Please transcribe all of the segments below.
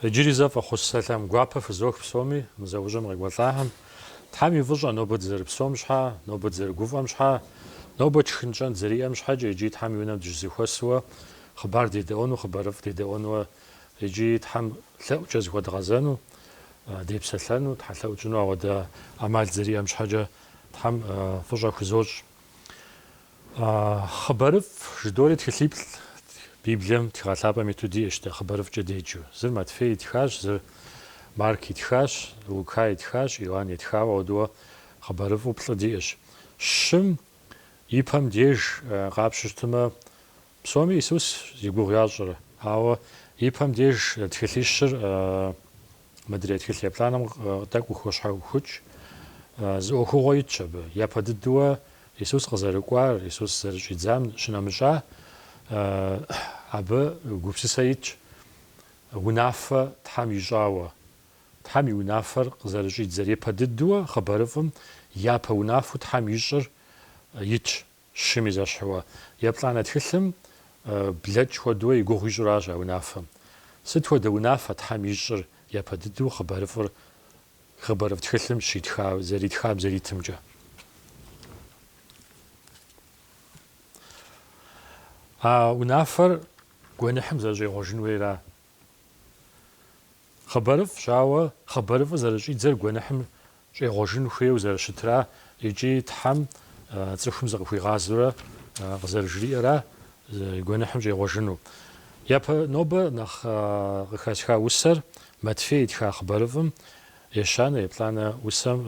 Иджыри зэ фӏэхъус сэлъам гуапэ фызох псоми, мы зэӏущӏэм къекӏуэлӏахэм. Тхьэм и фӏыщӏэ, нобэ дызэрыпсом щхьэ, нобэ дызэрыгуфӏэм щхьэ, нобэ тшхын-тщӏэн дызэриӏэм щхьэкӏэ икӏи Тхьэм и унэм дыщызэхуэсуэ хъыбар дедэӏуэну, хъыбарыфӏ дедэӏуэнуэ икӏи Тхьэм лъэӏукӏэ зыхуэдгъэзэну, депсэлъэну, тхьэлъэӏукӏэ ауэдэ ӏэмал дызэриӏэм щхьэкӏэ Тхьэм фӏыщӏэ хузощӏ. Хъыбарыфӏ жыдори тхылъиплӏ Библием тхыгъэ лъапӏэм иту диӏэщ дэ хъыбарыфӏкӏэ деджэу. Зыр Матфей итхащ, зыр Марк итхащ, Лука итхащ, Иоанн итхауэ, ауэдууэ хъыбарыфӏу плӏы диӏэщ. Щым и пэм деж къапщтэу щытмэ, Псоми Исус зи гугъу ящӏэр, ауэ и пэм деж тхылъищыр мыдрей тхылъ еплӏанэм тӏэкӏу хощхьэхукӏ. Зы ӏуэхугъуэ итщ абы. Япэ дыдэуэ Исус къызэрыкӏуар, Исус зэрыщӏидзам щынэмыщӏа, абы гупсысэ итщ, унафэ Тхьэм ищӏауэ. Тхьэм и унафэр къызэрыщӏидзэр. Япэ дыдэуэ хъыбарыфӏым япэ унафэу Тхьэм ищӏыр итщ. Щым и зэщхьыуэ еплӏанэ тхылъым блэкӏ хуэдэуэ и гугъу ищӏыращ а унафэм. Сыт хуэдэ унафэ Тхьэм ищӏыр япэ дыдэу хъыбарыфӏыр хъыбарыфӏ тхылъым щитха, зэритхам зэритымкӏэ? А унафэр гуэныхьым зэрыщӏегъуэжын хуейра Хъыбарыфӏщ, ауэ хъыбарыфӏыр зэрыщӏидзэр гуэныхьым щӏегъуэжын хуейуэ зэрыщытра икӏи Тхьэм цӏыхум зыкъыхуигъазэурэ къызэрыжриӏэра гуэныхьым щӏегъуэжыну. Япэ нобэ нэхъ къыхэсха усэр Матфей итха хъыбарыфӏым ещанэ-еплӏанэ усэм,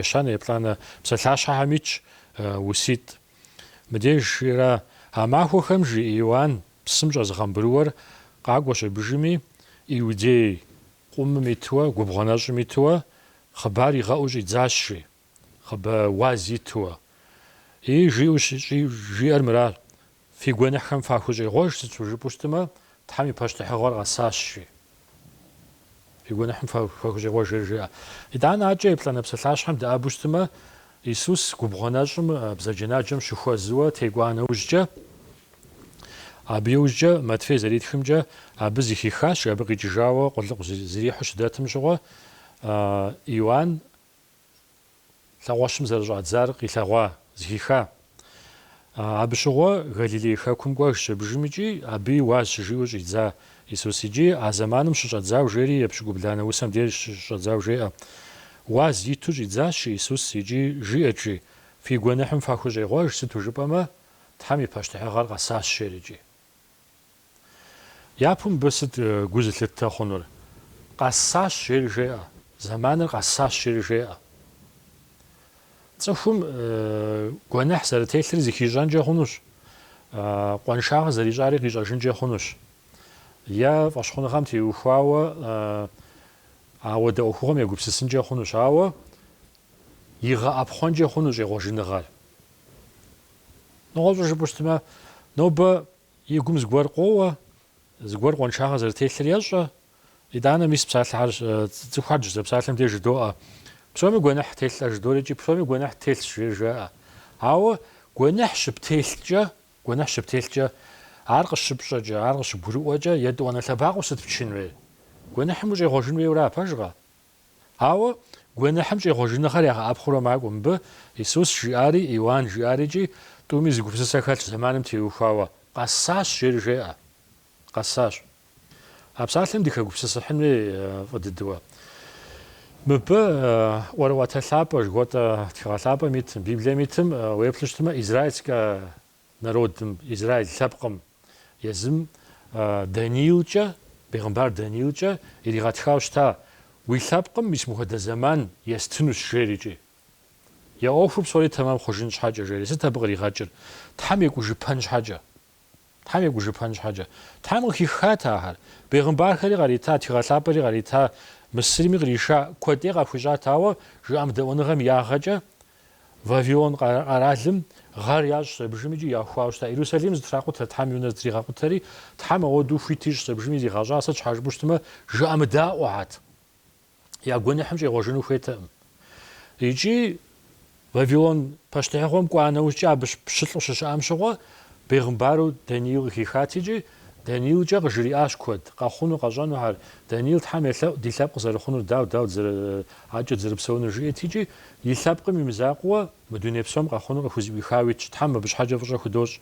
ещанэ-еплӏанэ псалъащхьэхэм итщ уситӏ. Мыбдеж жиӏэра а махуэхэм жи Иоанн псым щӏэзыгъэмбырыуэр къакӏуэ щабыжми, Иудей къумым итуэ, губгъуэ нэщӏым итуэ хъыбар игъэӏуу щӏидзащ, жи, хъыбэ уаз итуэ. И жиӏэу щӏи, жиӏэр мыращ, Фи гуэныхьхэм фахущӏегъуэж, сыт щхьэ жыпӏэу щытымэ, Тхьэм и пащтыхьыгъуэр къэсащ, жи. Фи гуэныхьым фахущӏегъуэж, жери жиӏэ. Итӏанэ адэкӏэ еплӏанэ псалъащхьэм дэӏэбэу щытмэ, Исус губгъуэ нэщӏым бзаджэнаджэм щыхуэзыуэ текӏуа нэужькӏэ, абы иужькӏэ Матфей зэритхымкӏэ, абы зыхихащ, абы къикӏыжауэ къулыкъу зрихьу щыхэтым щыгъуэ, Иоанн лъэхъуэщым зэрыщӏадзар къилъэгъуа, зыхиха. Абы щыгъуэ Галилей хэкум кӏуэжщ абыжым икӏи абы уаз щыжиӏэу щӏидза Исус икӏи а зэманым щыщӏэдзау жери епщыкӏубланэ усэм деж щыщӏэдзау жеӏэ. Уаз иту щӏидзащ Исус икӏи жиӏэкӏи, Фи гуэныхьым фахущӏегъуэж, сыту жыпӏэмэ, Тхьэм и пащтыхьыгъэр къэсащ, жери икӏи. Япэу мыбы сыт гу зылъыттэ хъунур? Къэсащ, жери жеӏэ. Зэманыр къэсащ, жери жеӏэ. Цӏыхум гуэныхь зэрытелъыр зыхищӏэнкӏэ хъунущ, къуаншагъэ зэрищӏари къищӏэжынкӏэ хъунущ. Е фӏэщхъуныгъэм теухуауэ ауэдэ ӏуэхугъуэм егупсысынкӏэ хъунущ, ауэ игъэӏэпхъуэнкӏэ хъунущ щӏегъуэжыныгъэр. Нэгъуэщӏу жыпӏэу щытмэ, нобэ и гум зыгуэр къоуэ, зыгуэр къуаншагъэ зэрытелъыр ещӏэ. Итӏанэ мис псалъэхьэр цӏыхухэр дыщызэпсалъэм деж жыдоӏэ. Псоми гуэныхь телъ-тӏэ жыдори икӏи псоми гуэныхь телъщ жери жаӏэ. Ауэ гуэныхь щыптелъкӏэ, гуэныхь щыптелъкӏэ, ар къыщыпщӏэкӏэ, ар къыщыгурыӏуэкӏэ, етӏуанэ лъэбакъуэу сыт пчын хуейр? Гуэныхьым ущӏегъуэжын хуейуэ ара, пэжкъэ? Ауэ гуэныхьым щӏегъуэжыныгъэр ягъэӏэпхъуурэ макӏуэ. Мыбы Исус жиӏари, Иоанн жиӏари икӏи тӏуми зы гупсысэ хэлъ зэманым теухуауэ. Къэсащ, жери жеӏэ. Къэсащ. А псалъэм дыхэгупсысыхьын хуей фӏы дыдэуэ. Мыбы ӏуэрыӏуатэ лъапӏэ жыхуэтӏэ тхыгъэ лъапӏэм итым, Библием итым уеплъу щытмэ, израильскэ народым, Израиль лъэпкъым, езым Даниилкӏэ, бегъымбар Даниилкӏэ иригъэтхауэ щыта, Уи лъэпкъым мис мыхуэдэ зэман естынущ, жери, икӏи. Я ӏуэхур псори тэмэм хъужын щхьэкӏэ, жери, сыт абы къригъэкӏыр? Тхьэм екӏужыпэн щхьэкӏэ. Тхьэм екӏужыпэн щхьэкӏэ. Тхьэм къыхиххат ахэр. Бегъымбархэри кърита, тхыгъэлъапӏэри кърита, Мысырми къриша куэдӏей къахуищӏат, ауэ жыӏэмыдэӏуэныгъэм ягъэкӏэ Вавилон къэралым гъэр ящӏщ абыжым икӏи яхуауэ щыта. Иерусалим зэтракъутэ, Тхьэм и унэ зэтригъэкъутэри, Тхьэм ауэдэу хуит ищӏщ абыжыми зигъэщӏа, сыт щхьэ жыпӏэу щытмэ, жыӏэмыдаӏуэхьэт, я гуэныхьым щӏегъуэжыну хуейтэкъым. Икӏи Вавилон пащтыхьыгъуэм кӏуа нэужькӏэ абы пщылӏу щыщыӏэм щыгъуэ, бегъымбару Даниил къыхихат икӏи Даниилкӏэ къыжриӏащ куэд, къэхъуну къэщӏэнухьэр. Даниил Тхьэм елъэӏу ди лъэпкъ зэрыхъунур, дауэ, дауэ дызэрыӏэкӏыр, дызэрыпсэунур жиӏэт икӏи, и лъэпкъым и мызакъуэ мы дуней псом къэхъуну къыхузэӏуихауэ итщ, Тхьэм абы щхьэкӏэ фӏыщӏэ худощӏ.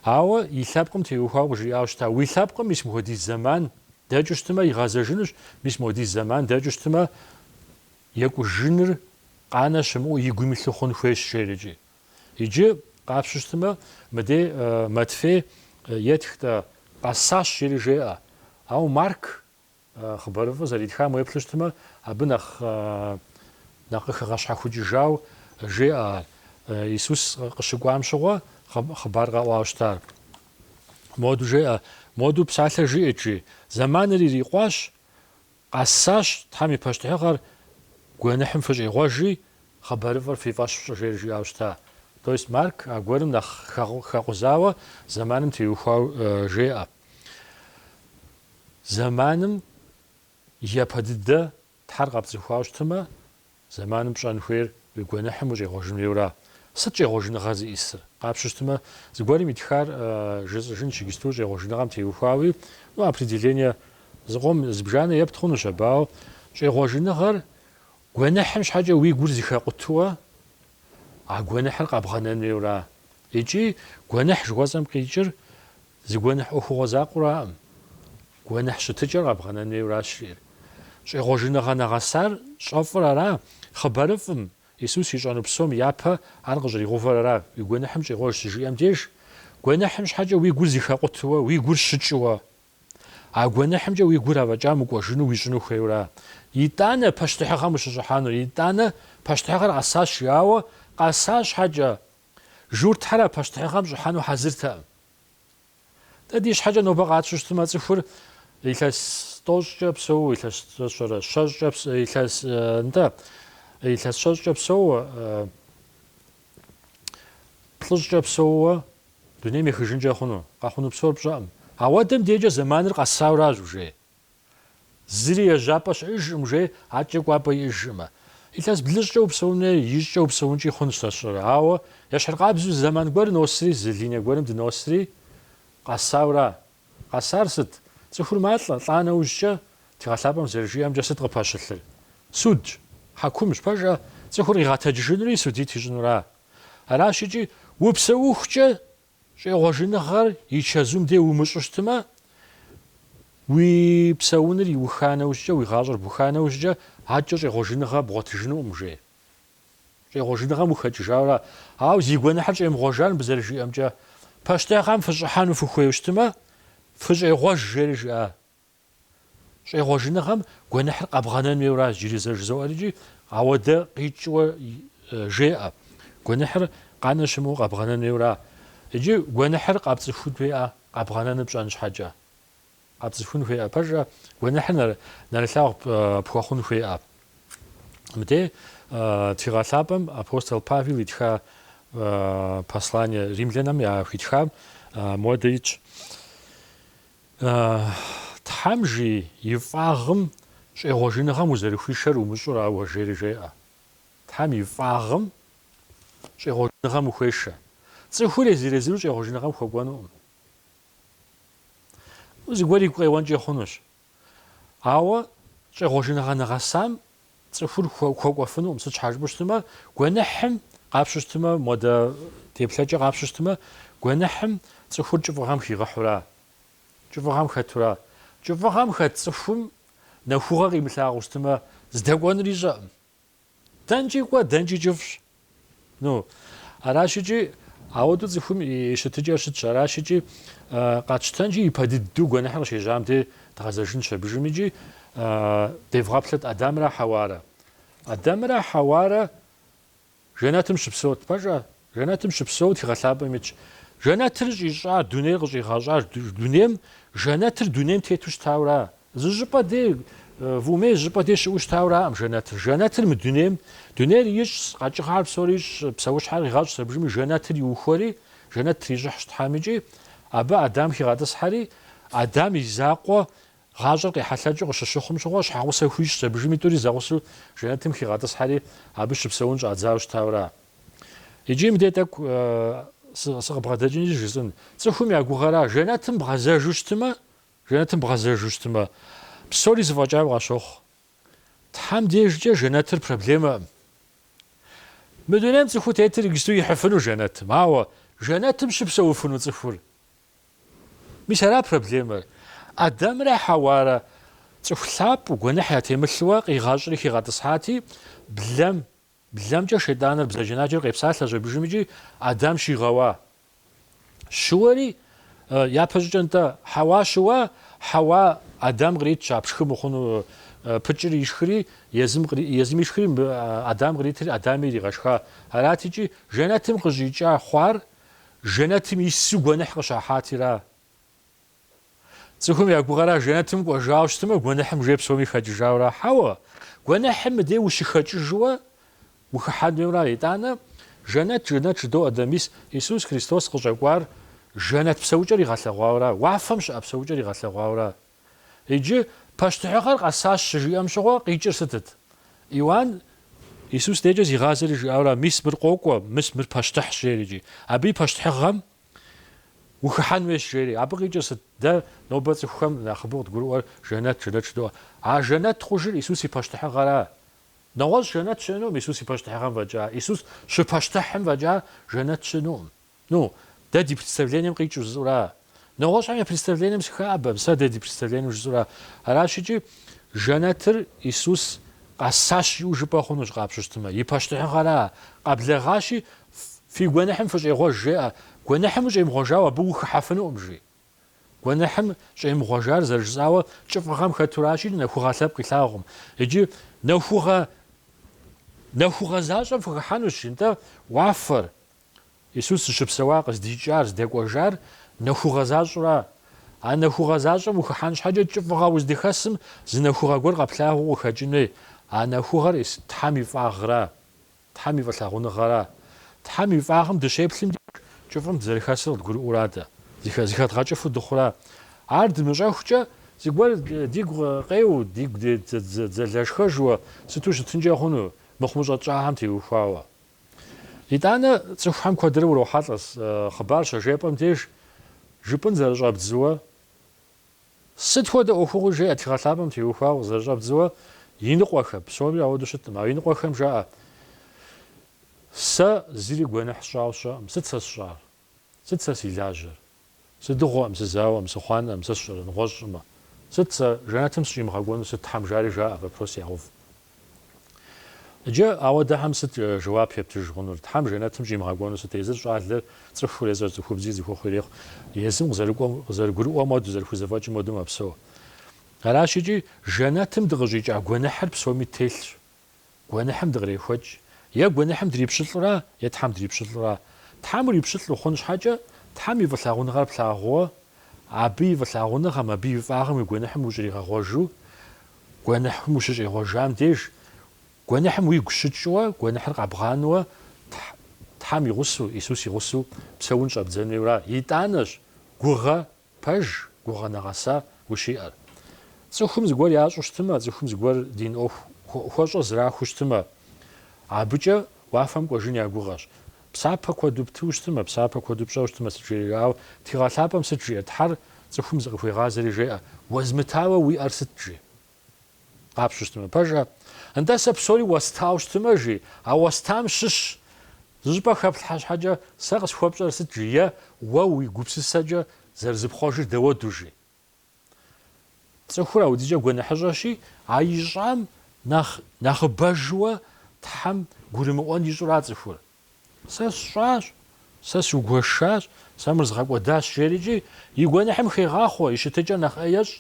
Ауэ и лъэпкъым теухуауэ къыжриӏауэ щыта, Уи лъэпкъым мис мыхуэдиз зэман дэкӏыу щытымэ, игъэзэжынущ, мис мыхуэдиз зэман дэкӏыу щытымэ, екӏужыныр къанэ щымыӏэу и гум илъу хъун хуейщ, жери икӏи. Иджы къапщу щытмэ, мыдей Матфей етх-тӏэ, къэсащ жери жеӏэ. Ауэ Марк хъыбарыфӏыр зэритхам уеплъу щытмэ, абы нэхъ нэхъ къыхэгъэщхьэхукӏыжауэ жеӏэ ар. Исус къыщыкӏуам щыгъуэ хъыбар къэӏуауэ щытар. Моду жеӏэ, Моду псалъэ жиӏэт, жи. Зэманыр ирикъуащ. Къэсащ Тхьэм и пащтыхьыгъэр гуэныхьым фыщӏегъуэжи, хъыбарыфӏыр фи фӏэщ фщӏы, жери жиӏауэ щыта. То есть Марк аргуэрым нэхъ хэкъузауэ зэманым теухуау жеӏэ. Зэманым япэ дыдэ Тхьэр къэпцӏыхуауэ щытымэ, Зэманым пщӏэн хуейр уи гуэныхьым ущӏегъуэжын хуейуэра? Сыт щӏегъуэжыныгъэр зиӏысыр? Къапщу щытмэ, зыгуэрым итхар жысӏэжынщ иджысту щӏегъуэжыныгъэм теухуауи, ну, определение зыкъом зыбжанэ епт хъунущ абы, ауэ, щӏегъуэжыныгъэр гуэныхьым щхьэкӏэ уи гур зыхэкъутуэ а гуэныхьыр къэбгъэнэн хуейуэра? Икӏи гуэныхь жыхуэсӏэм къикӏыр зы гуэныхь ӏуэхугъуэ закъуэураӏым. Гуэныхь щытыкӏэр къэбгъэнэн хуейуэращ жиӏэр. Щӏегъуэжыныгъэ нэгъэсар щӏэфӏыр ара? Хъыбарыфӏым, Исус ищӏэну псом япэ ар къыщӏригъэувэр ара? Уи гуэныхьым щӏегъуэж щыжиӏэм деж, гуэныхьым щхьэкӏэ уи гур зыхэкъутуэ, уи гур щыкӏыуэ. А гуэныхьымкӏэ уи гур афӏэкӏа мыкӏуэжыну уищӏыну хуейуэра? Итӏанэ пащтыхьыгъэм ущыщӏыхьэнур? Итӏанэ пащтыхьыгъэр къэсащ, жиӏауэ къэса щхьэкӏэ, журтхэр а пащтыхьыгъэм щӏыхьэну хьэзыртэкъым. Дэ ди щхьэкӏэ нобэ къатщу щытмэ, цӏыхур илъэс тӏощӏкӏэ псэууэ, илъэс тӏощӏэрэ щэщӏкӏэ, илъэс нтӏэ, илъэс щэщӏкӏэ псэууэ, плӏыщӏкӏэ псэууэ дунейм ехыжынкӏэ хъуну, къэхъуну псор пщӏэкъым. Ауэ Адэм дежкӏэ зэманыр къэсауращ, жей. Зыри ежьапӏэ щыӏэжкъым жей адэкӏэ кӏуапӏэ иӏэжкъымэ. Илъэс блыщӏкӏэ упсэун, е ищӏкӏэ упсэункӏи хъунщ нэщӏрэ. Ауэ ещхьыркъабзэу зы зэман гуэр носри, зы линэ гуэрым дыносри, къэсаура? Къэсар сыт? Цӏыхур малӏэ, лӏа нэужькӏэ, Тхыгъэ Лъапӏэм зэрыжиӏэмкӏэ, сыт къыпэщылъыр? Судщ, хьэкумщ, пэжӏэ, цӏыхур къигъэтэджыжынури судить ищӏынура? Аращ икӏи, упсэухукӏэ Щӏегъуэжыныгъэр и чэзум де умыщӏу щытмэ, уи псэуныр иуха нэужькӏэ, уи гъащӏэр буха нэужькӏэ, адэкӏэ щӏегъуэжыныгъэ бгъуэтыжынукъым, жей. Щӏегъуэжыныгъэм ухэкӏыжауэра. Ауэ зи гуэныхьыр щӏемыгъуэжар мыбы зэрыжиӏэмкӏэ, пащтыхьыгъэм фыщӏыхьэну фыхуейуэ щытмэ, фыщӏегъуэж, жери жиӏа. Щӏегъуэжыныгъэм гуэныхьыр къэбгъэнэн хуейуэра иджыри зэ жызоӏэри икӏи, ауэдэ къикӏыуэ жеӏэ, гуэныхьыр къанэ щымыӏэу къэбгъэнэн хуейуэра? Иджы гуэныхьыр къэпцӏыхун хуеӏэ къэбгъэнэну пщӏэн щхьэкӏэ? Къэпцӏыхун хуеӏэ пэжӏэ? Гуэныхьыр нэрылъагъу пхуэхъун хуеӏэ? Мыдей, Тхыгъэ Лъапӏэм апостол Павел итха послание римлянэм яхуитхам муэдэ итщ. Тхьэм жи, и фӏагъым щӏегъуэжыныгъэм узэрыхуишэр умыщӏэра уэ жери жеӏэ. Тхьэм и фӏагъым щӏегъуэжыныгъэм ухуешэ. Цӏыхур езыр-езыру щӏегъуэжыныгъэм хуэкӏуэнукъым. Зыгуэр игу къеуэнкӏэ хъунущ. Ауэ щӏегъуэжыныгъэ нэгъэсам Цӏыхур хуэкӏуэфынукъым, сыт щхьэ жыпӏэу щытмэ, гуэныхьым къапщу щытмэ, модэ теплъэкӏэ къапщу щытмэ, гуэныхьым цӏыхур кӏыфӏыгъэм хигъэхьура, кӏыфӏыгъэм хэтура. Кӏыфӏыгъэм хэт цӏыхум нэхугъэ къимылъагъуу щытмэ, здэкӏуэнур ищӏэкъым. Дэнкӏи кӏуэ, дэнкӏи кӏыфӏщ. Ну, аращ икӏи, ауэдэу цӏыхум и щытыкӏэр щытщ, аращ икӏи, къэтщтэнщи, ипэ дыдэу гуэныхьыр къыщежьам дей дгъэзэжынщ абыжым икӏи, девгъэплъыт Адамрэ Хьэуарэ. Адамрэ Хьэуарэ жэнэтым щыпсэут, пэжа? Жэнэтым щыпсэут, Тхыгъэ Лъапӏэм итщ. Жэнэтыр щӏищӏар, дунейр къыщӏигъэщӏар, дунейм, жэнэтыр дунейм тету щытауэ ара? Зы щӏыпӏэ дей, вумей зы щӏыпӏэ дей щыӏэу щытауэраӏым жэнэтыр. Жэнэтыр мы дунейм, дунейр ищӏщ, къэкӏыгъэхэр псори ищӏщ, псэущхьэр къигъэщӏщ абыжми жэнэтыр иухуэри, жэнэт трищӏыхьщ Тхьэм икӏи, абы Адам хигъэтӏысхьэри, Адам и закъуэ гъащӏэр къехьэлъэкӏыу къыщыщыхъум щыгъуэ, щхьэгъусэ хуищӏщ абыжыми тӏури зэгъусэу жэнэтым хигъэтӏысхьэри, абы щыпсэун щӏадзауэ щытауэра. Икӏи мыдей тӏэкӏу сыкъыбгъэдэкӏынщи жысӏэн. Цӏыхум я гугъэра, жэнэтым бгъэзэжу щытымэ, Жэнэтым бгъэзэжу щытмэ, псори зэфӏэкӏауэ къащохъу. Тхьэм дежкӏэ жэнэтыр проблемэкъым. Мы дунейм цӏыхуу тетыр иджысту ихьыфыну жэнэтым, ауэ жэнэтым щыпсэуфыну цӏыхур. Мис ара проблемэр. Адамрэ Хьэуарэ цӏыху лъапӏэу, гуэныхь ятемылъуэ, къигъэщӏри хигъэтӏысхьати, блэм Блэмкӏэ шейтӏаныр бзаджэнаджэр къепсалъэщ абыжым икӏи Адам щигъэуа. Щыуэри, япэщӏыкӏэ нтӏэ, Хьэуа щыуа, Хьэуа Адам къритщ а пшхы мыхъуну, пыкӏэр ишхри, езым, езым ишхри мыбы Адам къритри, Адами иригъэшха. Арат икӏи жэнэтым къыщӏикӏа хъуар, жэнэтым ису гуэныхь къыщахьати ара? Цӏыхум я гугъэра жэнэтым кӏуэжауэ щытмэ, гуэныхьым жей псоми хэкӏыжауэра? Хьэуэ, гуэныхьым мыдей ущыхэкӏыжыуэ ухыхьэн хуейуэра? Итӏанэ, жэнэт, жэнэт жыдоӏэ дэ, мис Исус Христос къыщӏэкӏуар жэнэт псэукӏэр игъэлъэгъуауэра, уафэм щыӏэ псэукӏэр игъэлъэгъуауэра? Иджы пащтыхьыгъэр къэсащ щыжиӏэм щыгъуэ къикӏыр сытыт? Иуан Исус дежкӏэ зигъазэри жиӏауэра, мис мыр къокӏуэ, мис мыр пащтыхьщ, жери икӏи абы и пащтыхьыгъэм Ухыхьэн хуейщ, жери. Абы къикӏыр сыт? Дэ нобэ цӏыхухэм нэхъыбэу къыдгурыӏуэр жэнэт, жэнэт жыдоӏэ. А жэнэт хъужыр Исус и пащтыхьыгъэра? Нэгъуэщӏ жэнэт щыӏэнукъым Исус и пащтыхьыгъэм фӏэкӏа. Исус щыпащтыхьым фӏэкӏа жэнэт щыӏэнукъым. Ну, дэ ди представлением къикӏыу жысӏэура? Нэгъуэщӏхэм я представлением сыхэӏэбэкъым, сэ дэ ди представлением жысӏэура? Аращыкӏи, жэнэтыр Исус къэсащ жиӏэу жыпӏэ хъунущ къапщтэу щытмэ. И пащтыхьыгъэра? Къэблэгъащи, Фи гуэныхьым фыщӏегъуэж, жеӏэ. Гуэныхьым ущӏемыгъуэжауэ абы ухыхьэфынукъым, жи. Гуэныхьым щӏемыгъуэжар зэрыжысӏауэ кӏыфӏыгъэм хэтуращи, нэхугъэ лъэпкъ илъагъукъым. Иджы нэхугъэ защӏэм фыхыхьэнущ, нтӏэ, уафэр. Исус зыщыпсэуа, къыздикӏар, здэкӏуэжар нэхугъэ защӏэра? А нэхугъэ защӏэм ухыхьэн щхьэкӏэ кӏыфӏыгъэ уздэхэсым зы нэхугъэ гуэр къэплъагъуу укъыхэкӏын хуей, а нэхугъэр Тхьэм и фӏагъра? Тхьэм и фӏылъагъуныгъэра? Тхьэм и фӏагъым дыщеплъым деж, кӏыфӏым дызэрыхэсыр къыдгурыӏуэра дэ, зыхэдгъэкӏыфу дыхъура? Ар дымыщӏэхукӏэ, зыгуэр дигу къеуэу, дигу дзэлэшхэжуэ сыту щытынкӏэ хъуну, мыхъумыщӏэ тщӏахэм теухуауэ? Итӏанэ, цӏыхухэм куэдрэ урохьэлӏэ хъыбар щажепӏэм деж, жыпӏын зэрыщӏэбдзыуэ, Сыт хуэдэ ӏуэхугъуи жеӏэ тхыгъэ лъапӏэм теухуауэ къызэрыщӏэбдзыуэ иныкъуэхэм, псоми ауэдэу щытӏым, а иныкъуэхэм жаӏэ, Сэ зыри гуэныхь сщӏауэ щыӏэкъым, сыт сэ сщӏар? Сыт сэ си лажьэр? Сыдыгъуэкъым, сызауэкъым, сыхъуанэкъым, сэ сщӏэрэ, нэгъуэщӏ щӏымэ? Сыт сэ, жэнэтым сыщӏимыгъэкӏуэну сыт Тхьэм жари жаӏэ, вопрос ягъэув. Иджы ауэдэхэм сыт жэуап ептыж хъунур? Тхьэм жэнэтым щӏимыгъэкӏуэну сыт? Езыр щӏалэр цӏыхур, езыр цӏыхубзи зыхуэхъу ирехъу. Езым къы- къызэрыгурыӏуэм хуэдэу, зэрыхузэфӏэкӏым хуэдэу мэпсэу. Аращ икӏи, жэнэтым дыкъыщӏикӏа гуэныхьыр псоми телъщ. Гуэныхьым дыкърехуэкӏ. Е гуэныхьым дрипщылӏура, е Тхьэм дрипщылӏура. Тхьэм урипщылӏ ухъун щхьэкӏэ, Тхьэм и фӏылъагъуныгъэр плъагъууэ, Абы и фӏылъагъуныгъэм, Абы и фӏагъым уи гуэныхьым ущӏригъэгъуэжу, Гуэныхьым ущыщӏегъуэжам деж, гуэныхьым уигу щыкӏыуэ, гуэныхьыр къэбгъанэуэ Тхьэм и гъусэу, Исус и гъусэу псэун щӏэбдзэн хуейуэра? Итӏанэщ гугъэ пэж, гугъэ нэгъэса ущиӏэр. Цӏыхум зыгуэр ящӏу щытымэ, цӏыхум зыгуэр дин ӏуэху хуэщӏэ зэрахуэу щытымэ, абыкӏэ уафэм кӏуэжын я гугъэщ. Псапэ куэду птыу щытымэ, псапэ куэду пщӏэу щытымэ сыт жери, ауэ Тхыгъэ Лъапӏэм сыт жиӏэ, Тхьэр цӏыхум зыкъыхуегъазэри жеӏэ, Уэзмытауэ уи ӏэр сыт жи? Къапщу щытымэ пэжӏэ, Нтӏэ сэ псори уэстауэ щытымэ жи, А уэстам щыщ зыщӏыпӏэ хэплъхьэ щхьэкӏэ сэ къысхуэпщӏэр сыт жи е Уэ уи гупсысэкӏэ зэрызыпхъуэжыр дауэду жи? Цӏыхур аудикӏэ гуэныхьыщӏэщи, а ищӏам нэхъ нэхъыбэжуэ Тхьэм гурымыӏуэн ищӏура цӏыхур? Сэ сщӏащ, сэ сугуэшащ, сэ мыр згъэкӏуэдащ жерикӏи, и гуэныхьым хегъахъуэ, и щытыкӏэр нэхъ ӏей ещӏ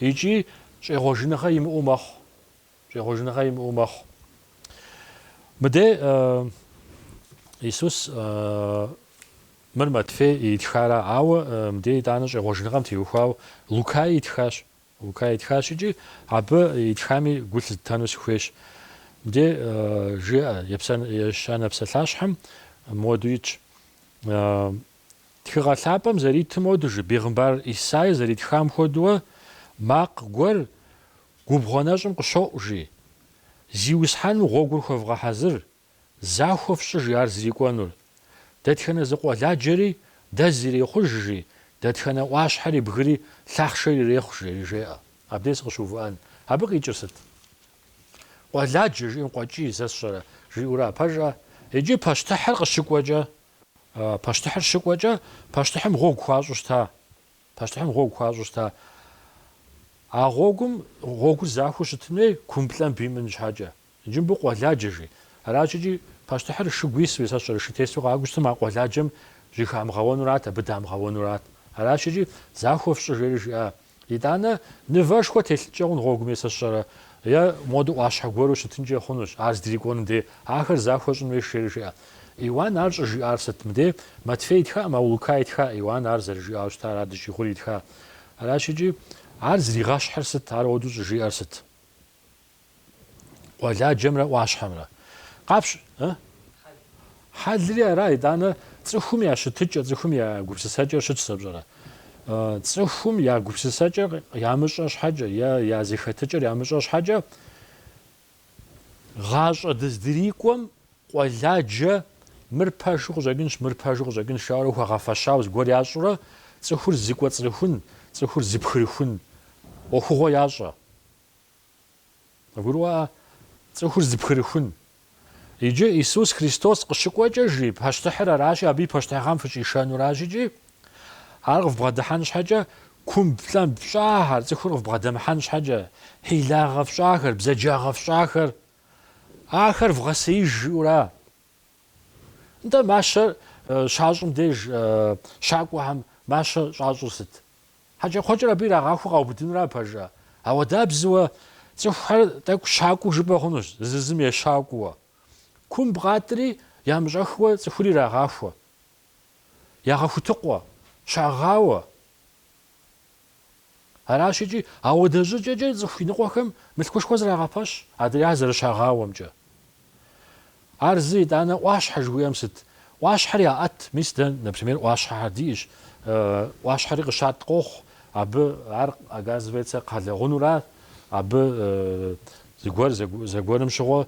икӏи щӏегъуэжыныгъэ имыӏэу мэхъу. Щӏегъуэжыныгъэ имыӏэу мэхъу. Мыдей, Иисус, мыр Матфей итхара, ауэ мыдей итӏанэ щӏегъуэжыныгъэм теухуауэ Лукай итхащ. Лукай итхащ икӏи абы итхами гу лъызытэну сыхуейщ. Мыдей жиӏэ, Ещанэ псалъащхьэм мыуэду итщ. Тхыгъэ лъапӏэм зэритым моду жи, бегъымбар Исай зэритхам хуэдуэ, макъ гуэр Губгъуэ нэщӏым къыщоӏу, жи. Зиусхьэным гъуэгур хуэвгъэхьэзыр, захуэ фщӏы, жи ар зрикӏуэнур. Дэтхэнэ зы къуэладжэри дэз ирехъуж, жи, дэтхэнэ ӏуащхьэри бгыри лъахъшэр ирехъу, жери жеӏэ. Абдей сыкъыщыувыӏэн. Абы къикӏыр сыт? Къуэладжэ жиӏэм къуэкӏий сэ сщӏэрэ? жиӏэура, пэжӏэ? Иджы пащтыхьыр къыщыкӏуэкӏэ, пащтыхьыр щыкӏуэкӏэ, пащтыхьым гъуэгу хуащӏу щыта? Пащтыхьым гъуэгу хуащӏу щыта. А гъуэгум гъуэгур захуэу щытын хуей кумблӏэмб имыӏэн щхьэкӏэ. Иджы мыбы къуэладжэ жи. Аращ икӏи пащтыхьыр шыгу ису е сэ сщӏэрэ шы тесу къакӏуэу щытым а къуэладжэм жьэхамыгъэуэнурат, абы дамыгъэуэнурат. Аращ икӏи захуэ фщӏы жери жиӏа. Итӏанэ нывэшхуэ телъынкӏэ хъун гъуэгум е сэ сщӏэрэ е моду ӏуащхьэ гуэру щытынкӏэ хъунущ, ар здрикӏуэнум дей ахэр захуэ щӏын хуейщ жери жиӏэ. Иуан ар щӏыжиӏар сыт? Мыде, Матфей итхакъым, ауэ Лука итха, Иуан ар зэрыжиӏауэ щыта, ара дыщӏигъури итха. Аращ икӏи, ар зригъэщхьыр сыт, ар уэду щӏыжиӏэр сыт? Къуэладжэмрэ ӏуащхьэмрэ. Къапщ, ы? Хьэлри ара, итӏанэ, цӏыхум я щытыкӏэ, цӏыхум я гупсысэкӏэр щытщ сэ пщӏэрэ? Цӏыхум я гупсысэкӏэр ямыщӏэ щхьэкӏэ, е я зэхэтыкӏэр ямыщӏэ щхьэкӏэ, Гъащӏэ дыздрикӏуэм къуэладжэ мыр пэжу къыщӏэкӏынщ, мыр пэжу къыщӏэкӏынщ жаӏэурэ хуэгъэфэщауэ зыгуэр ящӏурэ, цӏыхур зыкӏуэцӏрыхун, цӏыхур зыпхырыхун ӏуэхугъуэ ящӏэ. Къывгурыӏуа? Цӏыхур зыпхырыхун. Иджы Исус Христос къыщыкӏуэкӏэ, жи, пащтыхьыр аращи, абы и пащтыхьыгъэм фыщӏишэнуращ икӏи, Ар къывбгъэдыхьэн щхьэкӏэ кумблӏэмб фщӏахэр, цӏыхур къывбгъэдэмыхьэн щхьэкӏэ, хьилагъэ фщӏахэр, бзаджагъэ фщӏахэр, ахэр вгъэсеиж жиӏэура? Нтӏэ, мащэр щащӏым деж щакӏуэхэм мащэ щӏащӏыр сыт? Хьэкӏэкхъуэкӏэр абы ирагъахуэу къаубыдынура пэжа? Ауэдабзэуэ, цӏыхухэр тӏэкӏу щакӏуэу жыпӏэ хъунущ, зызым ещакӏуэуэ. Кумб къатӏри ямыщӏэхыуэ цӏыхури ирагъахуэ. ягъэхутыкъуэ, щагъауэ. Аращ икӏи, ауэдэ щӏыкӏэкӏэ цӏыху иныкъуэхэм мылъкушхуэ зрагъэпэщ адрейхэр зэрыщагъауэмкӏэ. Ар зы, итӏанэ, ӏуащхьэ жыхуиӏэм сыт? ӏуащхьэр яӏэт, мис дэ, например, ӏуащхьэхэр диӏэщ, ӏуащхьэри къыщатӏ къохъу, абы ар, оказывается, кхъэлэгъунэура, абы зыгуэр зэгуэрым щыгъуэ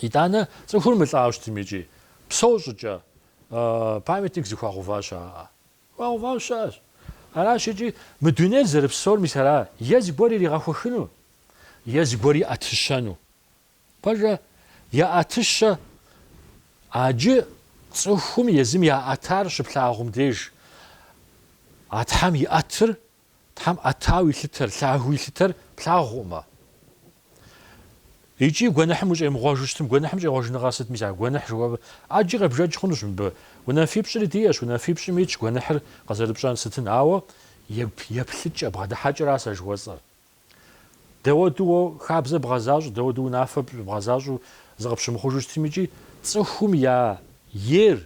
Итӏанэ цӏыхур мылӏауэ щытым икӏи псэу щӏыкӏэ памятник зыхуагъэува щыӏэ? Хуагъэувауэ щыӏэщ. Аращ икӏи мы дунейр зэрыпсэур мис ара, е зыгуэр иригъэхуэхыну, е зыгуэр иӏэтыщэну. Пэжа, яӏэтыщэ ӏэджи, цӏыхум езым яӏэтар щыплъагъум деж а Тхьэм иӏэтыр Тхьэм ӏэтауэ илъытэр, лъагэу илъытэр плъагъукъымэ? Икӏи гуэныхьым ущӏемыгъуэжу щытым, гуэныхьым щӏегъуэжыныгъэр сыт, мис а гуэныхь жыхуэпӏэр? ӏэджи къебжэкӏ хъунущ мыбы. Унафипщӏри диӏэщ, унафипщӏым итщ гуэныхьыр къызэрыпщӏэн сытын, ауэ еплъыкӏэ, бгъэдыхьэкӏэращ сэ жыхуэсӏэр. Дауэду уэ хабзэ бгъэзащӏэу, дауэду унафэ бгъэзащӏэу зыкъыпщымыхъужу щытым икӏи цӏыхум я ер,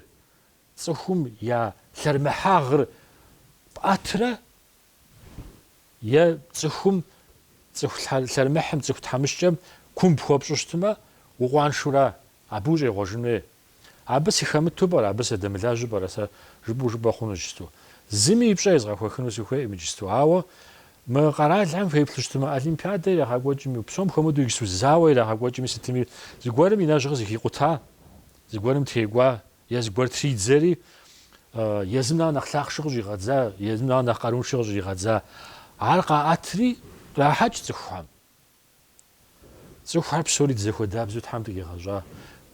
Цӏыхум я лъэрымыхьагъыр пӏэтрэ е цӏыхум, цӏыху лъэрымыхьым, цӏыху тхьэмыщкӏэм кумб хуэпщӏу щытмэ, укъуаншэура абы ущӏегъуэжын хуей? Абы сыхэмыту пӏэрэ, абы сыдэмылажьэу пӏэрэ сэ жыпӏэу жыпӏэ хъуну иджысту? Зыми и пщӏэ езгъэхуэхыну сыхуейкъым иджысту. Ауэ мы къэралхэм феплъу щытмэ, олимпиадэ ирагъэкӏуэкӏми, псом хуэмыдэу иджысту зауэ ирагъэкӏуэкӏми сытми, зыгуэрым и нэжьгъыр зыхикъута, зыгуэрым текӏуа Е зыгуэр тридзэри, езым нэхъ нэхъ лъахъшэ къыщӏигъэдза, езым нэхъ нэхъ къаруншэ къыщӏигъэдза. Ар къаӏэтри, кърахьэкӏ цӏыхухэм. Цӏыхухэр псори дызэхуэдабзэу Тхьэм дыкъигъэщӏа.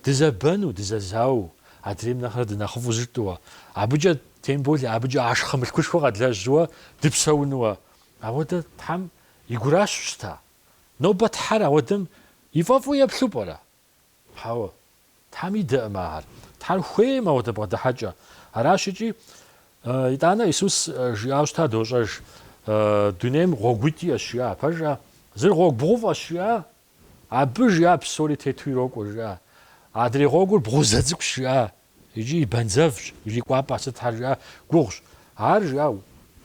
Дызэбэну, дызэзауэу, адрейм нэхърэ дынэхъыфӏу зытщӏыуэ. Абыкӏэ, тем более, абыкӏэ ашхъэ мылъкушхуэ къэдлэжьыуэ дыпсэунуэ. Ауэдэ Тхьэм и гуращ щыта. Нобэ Тхьэр ауэдэм и фӏэфӏу еплъу пӏэрэ? Хьэуэ, Тхьэм идэкъым ахэр. Тхьэр хуейкъым ауэдэ бгъэдыхьэкӏэ. Аращ икӏи. Итӏанэ Исус жиӏауэ щыта, дощӏэж, Дунейм гъуэгуитӏ иӏэщ, жиӏа. Пэжа? Зыр гъуэгу бгъуфӏэщ, жиӏа. Абы, жиӏа, псори тету ирокӏуэ, жиӏа. Адрей гъуэгур бгъузэ цӏыкӏущ, жиӏа, икӏи и бэнзэвщ, ирикӏуапӏэ сытхэр, жиӏа, гугъущ. Ар, жиӏа,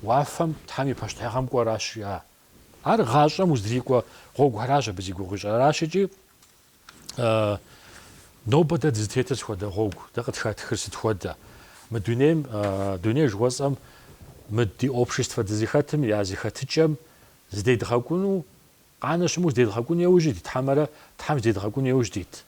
уафэм Тхьэм и пащтыхьыгъэм кӏуэращ, жиӏа. Ар гъащӏэм уздрикӏуэ гъуэгухэращ абы зи гугъу ищӏыр. Аращ икӏи. Нобэ дэ дызытетыр сыхуэдэ гъуэгу, дэ къыхэтхыр сыт хуэдэ? Мы дунейм, дуней жыхуэсӏэм, мы ди обществэ дызыхэтым я зэхэтыкӏэм здедгъэкӏуну, къанэ щыму здедгъэкӏуну еужь дит, хьэмэрэ Тхьэм здедгъэкӏуну еужь дит?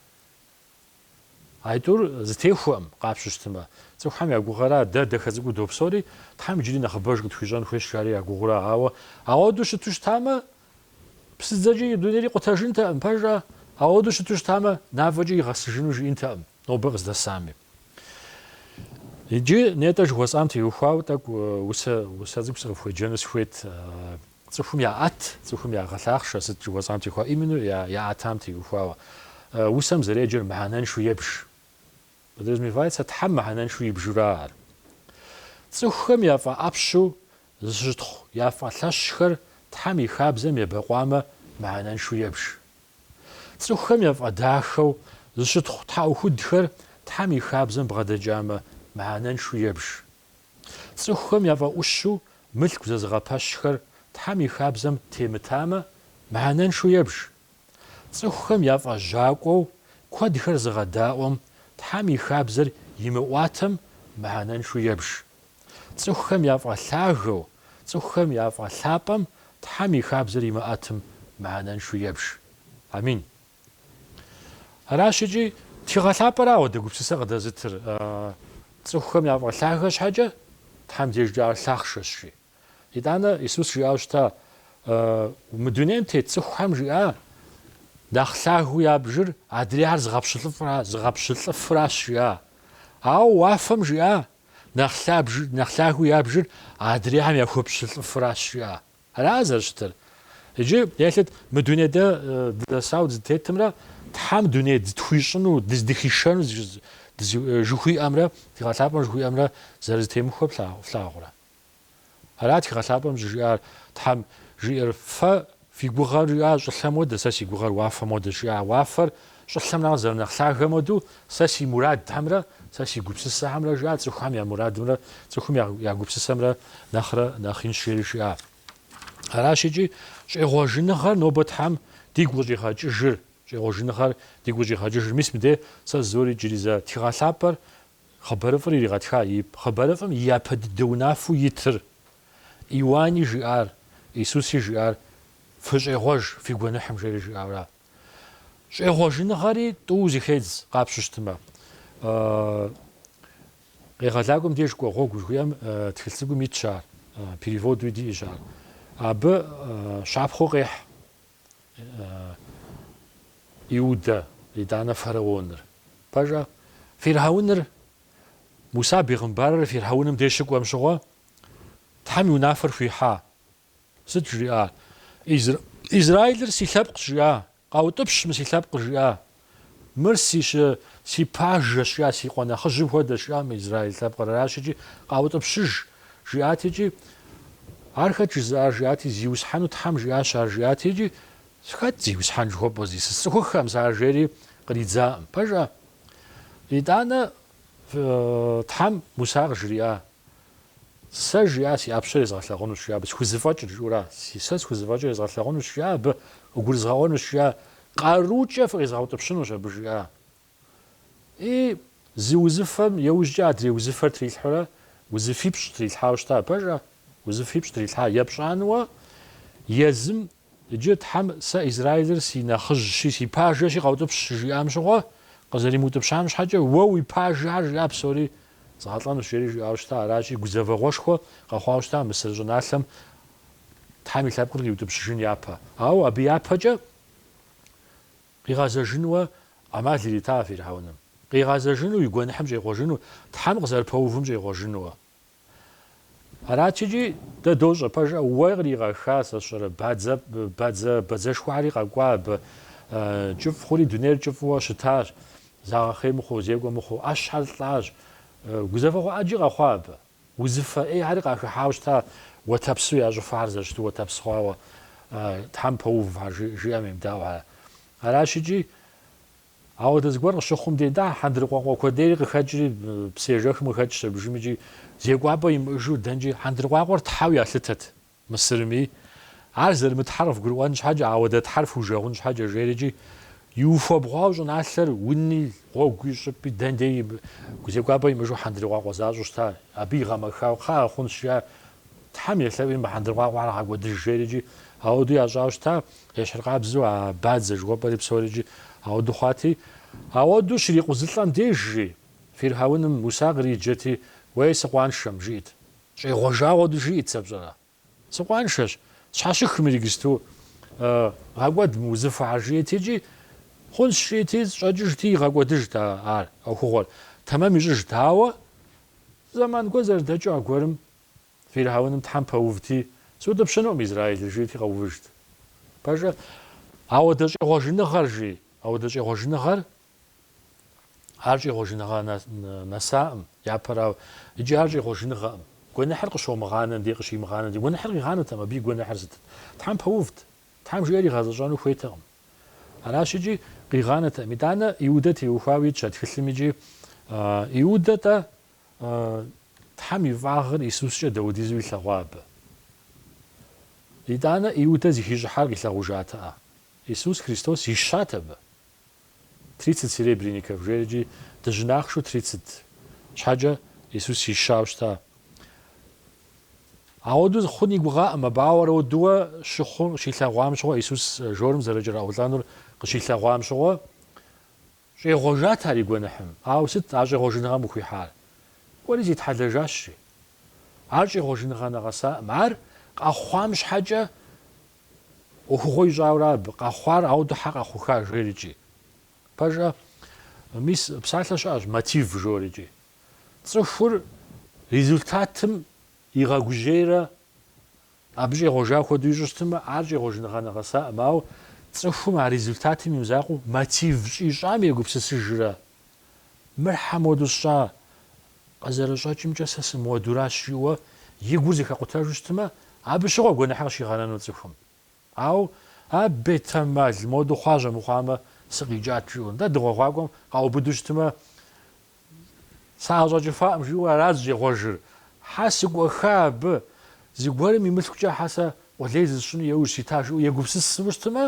Аитӏур зэтехуэкъым къапщту щытмэ, цӏыхухэм я гугъэра, дэ дэхэ цӏыкӏуу допсори, Тхьэм иджыри нэхъыбэж къытхуищӏэн хуейщ, жари я гугъура, ауэ ауэду щыту щытамэ, псыдзэкӏи и дунейри къутэжынтэкъым, пэжа? Ауэду щыту щытамэ, мафӏэкӏи игъэсыжыну жиӏэнтэкъым, нобэ къыздэсами. Иджы нетӏэ жыхуэсӏам теухуауэ тӏэкӏу усэ цӏыкӏу сыкъыфхуеджэну сыхуейт. Цӏыхум яӏэт, цӏыхум ягъэлъахъшэ сыт жыхуэсӏам теухуа именно яӏэтам теухуауэ усэм зэреджэр мыхьэнэншу ебж. Подразумевается Тхьэм мыхьэнэншу ибжура ар. Цӏыхухэм яфӏэӏэпщу зыщытхъу яфӏэлъэщхэр Тхьэм и хабзэм ебэкъуамэ мыхьэнэншу ебж. Цӏыхухэм яфӏэдахэу зыщытхъу тхьэӏухудхэр Тхьэм и хабзэм бгъэдэкӏамэ мыхьэнэншу ебж. Цӏыхухэм яфӏэӏущу мылъку зэзыгъэпэщхэр Тхьэм и хабзэм темытамэ, мыхьэнэншэу ебж. Цӏыхухэм яфӏэжьакӏуэу куэдхэр зыгъэдаӏуэм Тхьэм и хабзэр имыӏуатэм, мыхьэнэншэу ебж. Цӏыхухэм яфӏэлъагэу, цӏыхухэм яфӏэлъапӏэм Тхьэм и хабзэр имыӏэтым, мыхьэнэншэу ебж. Амин. Аращ икӏи тхыгъэ лъапӏэра ауэдэ гупсысэ къыдэзытыр, цӏыхухэм яфӏэлъагэ щхьэкӏэ Тхьэм дежкӏэ ар лъахъшэщ, жи. Итӏанэ Исус жиӏауэ щыта, Мы дунейм тет цӏыхухэм жиӏа, Нэхъ лъагэу ябжыр адрейхэр зыгъэпщылӏыфыращ, жиӏа. Ауэ уафэм жиӏа, Нэхъ лъагэу ябжыр адрейхэм яхуэпщылӏыфыращ, жиӏа. Ара зэрыщытыр? Иджы елъыт мы дуней дэ дызэсау дызытетымрэ Тхьэм дуней дытхуищӏыну, дыздыхишэну жыхуиӏэмрэ тхыгъэ лъапӏэм жыхуиӏэмрэ зэрызэтемыхуэр флъагъурэ? Ара тхыгъэ лъапӏэм щӏыжиӏар, Тхьэм жиӏэр, Фэ фи гугъэр жиӏа щӏылъэм хуэдэ, сэ си гугъэр уафэм хуэдэ жиӏа, уафэр Щӏылъэм нэхърэ зэрынэхъ лъагэм хуэдэу, сэ си мурадхэмрэ сэ си гупсысэхэмрэ жиӏа, цӏыхухэм я мурадымрэ цӏыхум я гупсысэмрэ нэхърэ нэхъ инщ, жери жиӏа. Аращ икӏи щӏегъуэжыныгъэр нобэ Тхьэм дигу къыщӏигъэкӏыжыр, щӏегъуэжыныгъэр дигу къыщӏигъэкӏыжыр. Мис мыдей сэ зыори иджыри зэ тхыгъэ лъапӏэр, хъыбарыфӏыр иригъэтха, и хъыбарыфӏым и япэ дыдэ унафэу итыр. Иуани жиӏар, Исуси жиӏар, Фыщӏегъуэж фи гуэныхьым, жери жиӏауэ ара? Щӏегъуэжыныгъэри тӏууэ зыхедз къапщтэу щытмэ. Къегъэлакӏуэм деж кӏуэ гъуэгу жыхуиӏэм тхылъ цӏыкӏум итщ ар, переводуи диӏэщ ар. Абы щапхъэу къехь Иудэ, итӏанэ фараоныр. Пэжа? Фирхьэуныр, Муса бегъымбарыр фирхьэуным деж щыкӏуэм щыгъуэ, Тхьэм и унафэр хуихьа. Сыт жриӏа? Израилыр си лъэпкъщ, жиӏа, къаутӏыпщ мы си лъэпкъыр, жиӏа, мыр си щы, си пажэщ, жиӏа, си къуэ нэхъыжьым хуэдэщ, жиӏа, мы Израил лъэпкъыр аращ икӏи, къаутӏыпщыж, жиӏати икӏи, Ар хэт жызыӏар, жиӏати, зиусхьэну Тхьэм жиӏащ ар, жиӏати икӏи, Хэт зиусхьэн жыхуэпӏэр? Зи сцӏыхуххэм сэ ар жери къридзакъым. Пэжа? Итӏанэ Тхьэм Муса къыжриӏа, Сэ, жиӏа, си ӏэпщэр езгъэлъэгъунущ, жиӏа абы, схузэфӏэкӏыр, жиӏэурэ, си, сэ схузэфӏэкӏыр езгъэлъэгъунущ, жиӏа абы, къыгурызгъэӏуэнущ, жиӏа, къарукӏэ фыкъезгъэутӏыпщынущ абы, жиӏа. И, зы узыфэм еужькӏэ адрей узыфэр трилъхьурэ, узыфипщӏ трилъхьауэ щыта, пэжа? Узыфипщӏ трилъхьа, епщӏануэ, езым Иджы Тхьэм сэ Израилыр си нэхъыжьщи, си пажэщи къэутӏыпщ щыжиӏам щыгъуэ, къызэримыутӏыпщам щхьэкӏэ, уэ уи пажэр жиӏа псори згъэлӏэнущ, жери жиӏауэ щыта, аращи, гузэвэгъуэшхуэ къэхъуауэ щыта Мысыр щӏыналъэм Тхьэм и лъэпкъыр къиутӏыпщыжын япэ. Ауэ абы япэкӏэ къигъэзэжынуэ ӏэмал иритащ фирхьэуным, къигъэзэжыну, и гуэныхьым щӏегъуэжыну, Тхьэм къызэрыпэувым щӏегъуэжынуэ. Аращ икӏи, дэ дощӏэ, пэжа, уэ къригъэха сэ сщӏэрэ, бадзэ, бадзэ, бадзэшхуэхьэри къэкӏуа абы, кӏыфӏ хъури дунейр кӏыфӏыуэ щытащ, загъэхъей мыхъуу, зекӏуэ мыхъуу, ӏэщхьэр лӏащ, гузэвэгъуэ ӏэджи къэхъуа абы, узыфэ ӏейхьэри къахыхьауэ щыта, уэтэпсу я щӏыфэхьэр зэрыщыту уэтэпс хъуауэ, Тхьэм пэувхьэр, жиӏэм емыдаӏуэхьэр. Аращ икӏи, Ауэдэ зыгуэр къыщыхъум дей нахь хьэндыркъуакъуэ куэдейри къыхэкӏри, псыежэхым къыхэкӏщ абыжым икӏи зекӏуапӏэ имыӏэжу дэнкӏи хьэндыркъуакъуэр тхьэу ялъытэт Мысырми. Ар зэрымытхьэр къывгурыӏуэн щхьэкӏэ, ауэдэ тхьэр фужэгъун щхьэкӏэ жери икӏи иухуэбгъуауэ щӏыналъэр уни, гъуэгуи, щӏыпӏи дэн дей зекӏуапӏэ имыӏэжу хьэндыркъуакъуэ защӏэу щыта, абы игъэмэхауэ, кхъыӏэ, хъунщ, жиӏа, Тхьэм елъэӏуи мы хьэндыркъуакъуэхэр гъэкӏуэдыж жери икӏи ауэдэу ящӏауэ щыта. Ещхьыркъабзэу а бадзэ жыхуэпӏэри псори икӏи ауэду хъуати, ауэду щрикъузылӏэм дежри, фирхьэуным Муса къриджэти, Уей, сыкъуаншэм! жиӏт. Щӏегъуэжа хуэдэу жиӏт сэ пщӏэрэ? Сыкъуаншэщ, щхьэщых мыр иджысту гъэкӏуэд мы узыфэхэр жиӏт икӏи, Хъунщ жиӏти, щӏэкӏыжти, игъэкӏуэдыжт ар ӏуэхугъуэр, тэмэм ищӏыжт. Ауэ, зэман гуэр зэрыдэкӏыу аргуэрым. Фирхьэуным Тхьэм пэувти, сыутӏыпщынукъым Израилыр, жиӏэти къэувыжт. Пэжӏэ, ауэдэ щӏегъуэжыныгъэр, жи, ауэдэ щӏегъуэжыныгъэр, ар щӏегъуэжыныгъэ нэсакъым, япэрауэ, иджы ар щӏегъуэжыныгъэкъым. Гуэныхьыр къыщомыгъанэм дей къыщимыгъанэм дей гуэныхьыр къигъанэтэкъым, абы и гуэныхьыр сытыт? Тхьэм пэувт. Тхьэм жиӏэр игъэзэщӏэну хуейтэкъым. Аращ икӏи къигъанэтэкъым. Итӏанэ Иудэ теухуауэ итщ а тхылъым икӏи. Иудэ-тӏэ Тхьэм и фӏагъыр Исускӏэ дэудизу илъэгъуа абы? Итӏанэ Иудэ зыхищӏыхьар къилъэгъужатэӏэ? Исус Христос ищат абы. Тридцать серебряников жери икӏи дыжьын ахъшэу тридцать щхьэкӏэ Исус ищауэ щыта. Ауэду хъун и гугъакъым абы, ауэрэ уэду щыхъум, щилъэгъуам щыгъуэ, Исус жорым зэрыкӏэраӏулӏэнур къыщилъэгъуам щыгъуэ, Щӏегъуэжат ар и гуэныхьым. Ауэ сыт а щӏегъуэжыныгъэм къыхуихьар? Кӏуэри зитхьэлэжащ, жи. Ар щӏегъуэжыныгъэ нэгъэсакъым. Ар къэхъуам щхьэкӏэ ӏуэхугъуэ ищӏауэрэ абы, къэхъуар ауэду хьэ къэхъуха, жери икӏи. Пэжӏэ, мис, псалъэ щыӏэщ, мотив, жори икӏи. Цӏыхур результатым игъэгужьейрэ Абы щӏегъуэжа хуэдэу ищӏу щытмэ, ар щӏегъуэжыныгъэ нэгъэсаӏым, ауэ цӏыхум а результатым и мызакъуэу мотив щӏищӏам егупсысыжрэ? Мыр хьэ моду сщӏа? Къызэрыщӏэкӏымкӏэ сэ сымыуэдуращ, жиӏэуэ и гур зэхэкъутэжу щытмэ, абы щыгъуэ гуэныхьыр къыщигъэнэну цӏыхум. Ауэ а бетэмал моду хъуащ, а мыхъуамэ, сыкъикӏат, жиӏэу. Нтӏэ, дыгъуэгъуакӏуэм къаубыду щытмэ, Саӏэщӏэкӏыфакъым, жиӏэу арат зыщӏегъуэжыр. Хьэ сыкӏуэха абы, зыгуэрым и мылъкукӏэ хьэ сэ къулей зысщӏыну яужь сита жиӏэу егупсысыу щытмэ,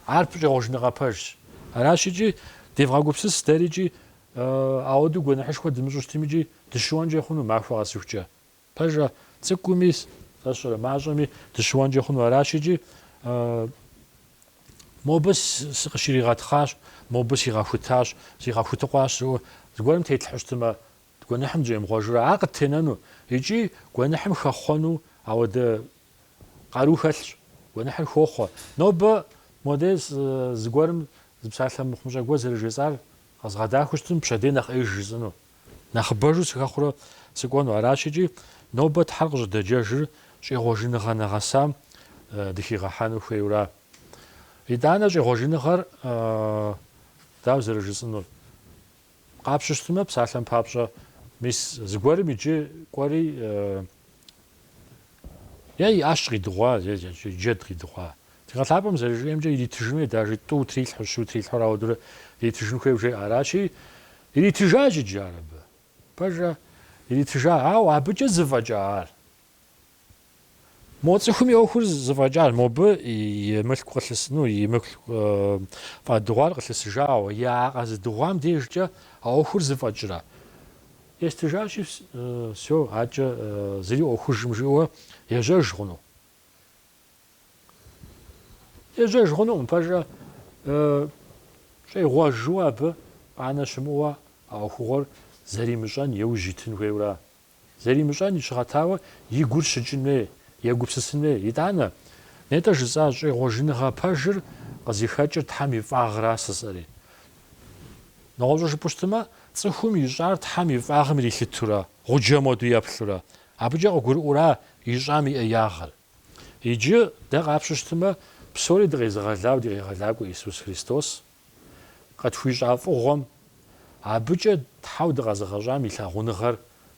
ар щӏегъуэжыныгъэ пэжщ. Аращ икӏи, девгъэгупсыс дэри икӏи ауэдэу гуэныхьышхуэ дымыщӏу щытми икӏи дыщыуэнкӏэ хъуну махуэ къэсыхукӏэ. Пэжа, цӏыкӏуми, сэ сщӏэрэ, мащӏэми дыщыуэнкӏэ хъуну аращ икӏи. Мобы сыкъыщригъэтхъащ, мобы сигъэхутащ, сигъэхутыкъуащ жиӏэу зыгуэрым тетлъхьэу щытмэ, гуэныхьым дыщӏемыгъуэжурэ, ар къыттенэну икӏи гуэныхьым хэхъуэну ауэдэ къару хэлъщ. Гуэныхьыр хохъуэ. Нобэ моде зыгуэрым зы псалъэ мыхъумыщӏэ гуэр зэрыжесӏар къэзгъэдахэу щытым, пщэдей нэхъ ӏеиж жысӏыну. Нэхъыбэжу сыхэхъурэ сыкӏуэну аращ икӏи, нобэ Тхьэр къыщӏыдэджэжыр щӏегъуэжыныгъэ нэгъэсам дыхигъэхьэну хуейуэра? Итӏанэ щӏегъуэжыныгъэр дауэ зэрыжысӏэнур? Къапщу щытмэ, псалъэм папщӏэ, мис зыгуэрым иджы кӏуэри е ӏэщ къидыгъуа, е джэд къидыгъуа. Тхыгъэ Лъапӏэм зэрыжиӏэмкӏэ, иритыжын хуей дажи тӏу трилъхьу, щу трилъхьурэ, ауэдурэ иритыжын хуейуэ жеӏэ. Аращи, иритыжащ иджы ар абы. Пэжа, иритыжа, ауэ абыкӏэ зыфӏэкӏа ар? Мо цӏыхум и ӏуэхур зыфӏэкӏар, мобы и мылъку къылъыс, ну, и мылъку фӏэдыгъуар къылъысыжауэ, а къэзыдыгъуам дежкӏэ а ӏуэхур зыфӏэкӏрэ? Естыжащи, всё, адэкӏэ зыри ӏуэхужым жиӏэуэ ежьэж хъуну? Ежьэж хъунукъым, пэжа, щӏегъуэжу абы къанэ щымыӏэуэ а ӏуэхугъуэр зэримыщӏэн еужь итын хуейуэра? Зэримыщӏэн и щыгъэтауэ и гур щыкӏын хуей, егупсысын хуей. Итӏанэ, нетӏэ жысӏа щӏегъуэжыныгъэ пэжыр къызыхэкӏыр Тхьэм и фӏагъра жысӏэри? Нэгъуэщӏу жыпӏэу щытмэ, цӏыхум ищӏар Тхьэм и фӏагъым ирилъытура, гъуджэм хуэдэу еплъура? Абыкӏэ къыгурыӏуэра ищӏам и ӏеягъыр? Иджы, дэ къапщу щытмэ, псори дыкъезыгъэлауэ ди Къегъэлакӏуэ Исус Христос къытхуищӏа фӏыгъуэм, Абыкӏэ Тхьэу дыкъэзыгъэщӏам и лъагъуныгъэр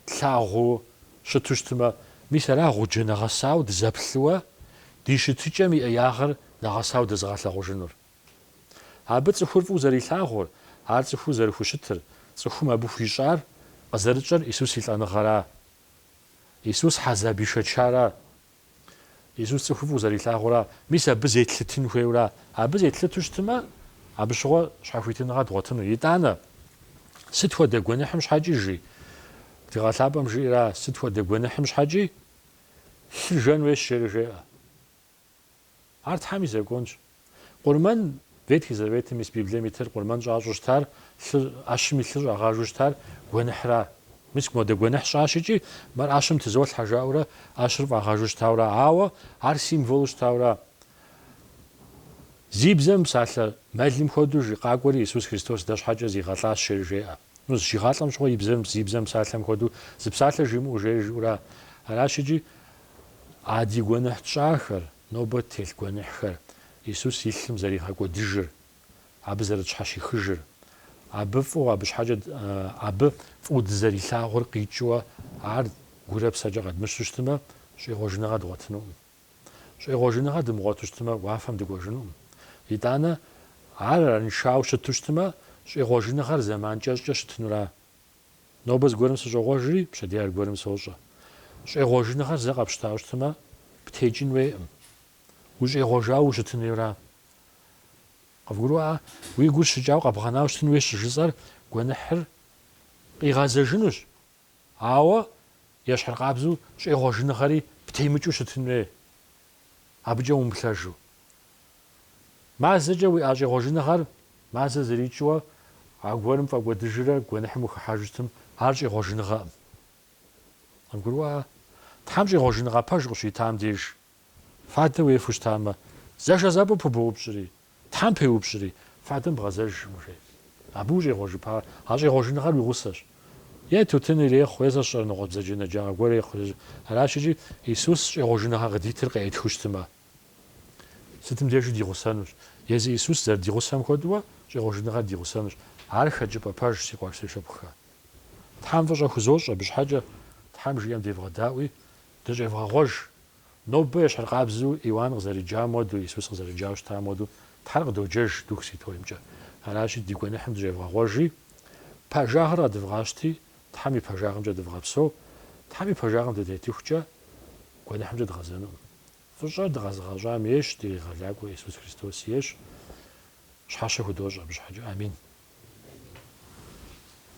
тлъагъуу щыту щытмэ, мис ара гъуджэ нэгъэсауэ дызэплъыуэ ди щытыкӏэм и ӏеягъыр нэгъэсауэ дэзыгъэлъагъужынур? Абы цӏыхур фӏыуэ зэрилъагъур, ар цӏыхуу зэрыхущытыр, цӏыхум абы хуищӏар, къызэрыщӏэр Исус и лӏэныгъэра? Исус хьэзаб ишэчара? Исус цӏыхур фӏыуэ зэрилъагъура? Мис абы зетлъытын хуейуэра? Абы зетлъыту щытмэ, абы щыгъуэ щхьэхуитыныгъэ дгъуэтыну. Итӏанэ, сыт хуэдэ гуэныхьым щхьэкӏи, жи, Тхыгъэ Лъапӏэм жиӏэра, сыт хуэдэ гуэныхьым щхьэкӏи лъыр жэн хуейщ, жери жеӏэ. Ар Тхьэм и Законщ. Къурмэн, Ветхий Заветым ис Библием итыр къурмэн щӏащӏу щытар, лъы, ӏэщым и лъыр щӏагъажу щытар гуэныхьра? Мис модэ гуэныхь сщӏащ икӏи, мыр ӏэщым тызолъхьэ жаӏэурэ ӏэщыр фӏагъажу щытаура, ауэ ар символу щытаура? Зи бзэ мыпсалъэ мэлым хуэдэу жи, къакӏуэри Исус Христос дэ щхьэкӏэ зигъэлӏащ жери жеӏэ. Ну, зыщигъалӏэм щыгъуэ и бзэм, зи бзэ мыпсалъэм хуэдэу зы псалъэ жимыӏэу жери жиӏэура? Аращ икӏи, А ди гуэныхь тщӏахэр, нобэ телъ гуэныхьхэр, Исус и лъым зэригъэкӏуэдыжыр, Абы зэрытщхьэщихыжыр, Абы фӏыуэ, Абы щхьэкӏэ Абы фӏыуэ дызэрилъагъур къикӏыуэ Ар гурэ псэкӏэ къэдмыщу щытымэ, щӏегъуэжыныгъэ дгъуэтынукъым. Щӏегъуэжыныгъэ дымыгъуэту щытымэ, уафэм дыкӏуэжынукъым. Итӏанэ, Ар араншауэ щыту щытымэ, щӏегъуэжыныгъэр зэман кӏэщӏкӏэ щытынура? Нобэ зыгуэрым сыщӏогъуэжри, пщэдей аргуэрым сощӏэ. Щӏегъуэжыныгъэр зэ къэпщтауэ щытымэ, птекӏын хуейкъым. Ущӏегъуэжауэ ущытын хуейура. Къывгурыӏуа? Уи гур щыкӏауэ къэбгъэнауэ щытын хуейщ щыжысӏэр гуэныхьыр къигъэзэжынущ. Ауэ ещхьыркъабзэу щӏегъуэжыныгъэри птемыкӏыу щытын хуей, абыкӏэ умыплъэжу. Мазэкӏэ уиӏэ щӏегъуэжыныгъэр мазэ зэрикӏыуэ аргуэрым пфӏэкӏуэдыжрэ гуэныхьым ухыхьэжу щытым, ар щӏегъуэжыныгъэкъым. Къывгурыӏуа? Тхьэм щӏегъуэжыныгъэ пэж къыщуитам деж фадэ уефу щытамэ, зэшэзэпӏэу пыбоупщӏри, Тхьэм пеупщӏри, фадэм бгъэзэжкъым. Абы ущӏегъуэжыпа, а щӏегъуэжыныгъэр уи гъусэщ. Е тутын ирехъу, е зэщӏэрэ ныкъуэ бзаджэнэджагъэ гуэр ирехъу, аращ икӏи Исус щӏегъуэжыныгъэ къыдитыр къеӏытхыу щытымэ. Сытым дежи ди гъусэнущ. Езы Исус зэрыди гъусэм хуэдэуэ щӏегъуэжыныгъэр ди гъусэнущ. Ар хэкӏыпӏэ пэжщ, си къуэш, си шыпхъухэ. Тхьэм фӏыщӏэ хузощӏ абы щхьэкӏэ, Тхьэм жиӏэм девгъэдаӏуи, дыщӏевгъэгъуэж. Нобэ ещхьыркъабзэу Иоанн къызэрыджам хуэдэу, Исус къызэрыджауэ щытам хуэдэу, Тхьэр къыдоджэж Дух Святоймкӏэ. Аращи, ди гуэныхьым дыщӏевгъэгъуэжи, пэжагъыр къэдывгъащти, Тхьэм и пэжагъымкӏэ дывгъэпсэу. Тхьэм и пэжагъым дытетыхукӏэ, гуэныхьымкӏэ дгъэзэнукъым. Фӏыщӏэр дыкъэзыгъэщӏам ейщ, ди Къегъэлакӏуэ Иисус Христос ейщ. Щхьэщэ худощӏ абы щхьэкӏэ. Амин.